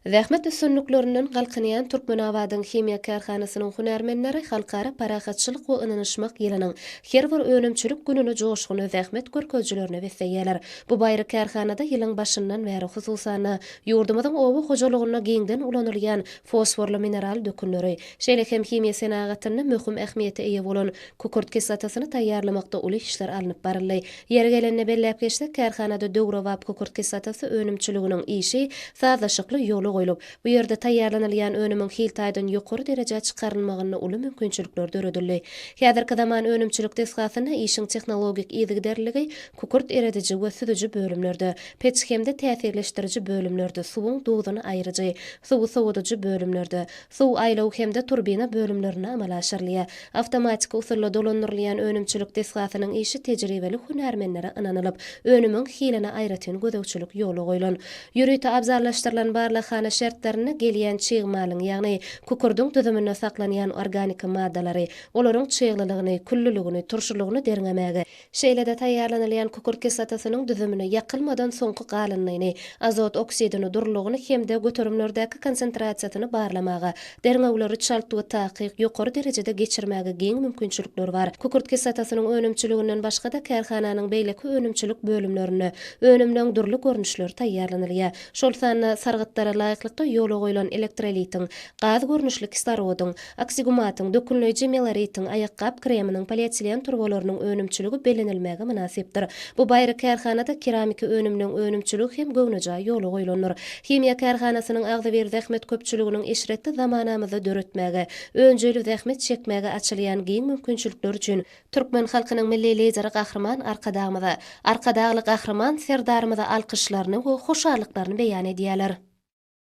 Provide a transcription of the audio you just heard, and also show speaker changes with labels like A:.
A: Zähmet üstünliklerinden galkynýan Türkmenabadyň himiýa kärhanasynyň hünärmenleri Halkara parahatçylyk we ynanyşmak ýylynyň her bir önümçilik gününi joşgunly zähmet görkezijilerine besleýärler. Bu baýry kärhanada ýylyň başyndan bäri hususan-da, ýurdumyzyň oba hojalygynda giňden ulanylýan fosforly mineral dökünleri, şeýle hem himiýa senagatynda möhüm ähmiýete eýe bolan kükürt kislotasyny taýýarlamakda uly işler alnyp baryldy. Ýeri gelende belläp geçsek, kärhanada döwrebap kükürt kislotasy önümçiliginiň işi sazlaşykly ýola goýlup, bu ýerde taýýarlanylýan önümiň hil taýdan ýokary derejä çykarylmagynda uly mümkinçilikler döredildi. Häzirki zaman önümçilik desgasynda işiň tehnologik yzygiderliligi kükürt erediji we süzüji bölümlerde, peç hem-de täsirleşdiriji bölümlerde, suwuň duzuny aýryjy, suwy sowadyjy bölümlerde, suw aýlaw hem-de turbina bölümlerinde amala aşyrylýar. Awtomatiki usulda dolandyrylýan önümçilik desgasynyň işi tejribeli hünärmenlere ynanylyp, önümiň hiline aýratyn gözegçilik ýola goýlan. Ýörite abzallaşdyrylan barlaghana şertlerinde gelýän çig malyň, ýagny kukurdyň düzüminde saklanýan organiki maddalary, olaryň çyglylygyny, küllüligini, turşulygyny derňemäge, Şeýle-de taýýarlanylýan kükürt kislotasynyň düzümini, ýakylmadan soňky galyndyny, azot oksidini, durulygyny hem-de göterimlerdäki konsentrasiýasyny barlamaga, derňewleri çalt we takyk, ýokary derejede geçirmäge giň mümkinçilikler bar. Kükürt kislotasynyň önümçiliginden başga-da kärhananyň beýleki önümçilik bölümlerinde önümleň dürli görnüşleri taýýarlanylýar. Şol sanda sargytlara laýyklykda ýola goýlan elektrolitiň, gaz görnüşli kislorodyň, Oksigumatyň, dökünleýji meloritiň, aýakgap kreminiň, polietilen turbalarynyň önümçiligi bellenilmäge mynasypdyr. Bu baýry kärhanada keramiki önüminiň önümçiligi hem göwnejaý ýola goýlandyr. Himiýa kärhanasynyň agzybir zähmet köpçüliginiň eşretli zamanamyzda döretmäge, önjeýli zähmet çekmäge açylýan giň mümkinçilikler üçin, türkmen halkynyň Milli Lideri Gahryman Arkadagymyza, Arkadagly Gahryman Serdarymyza alkyşlaryny we hoşallyklaryny beýan edýärler.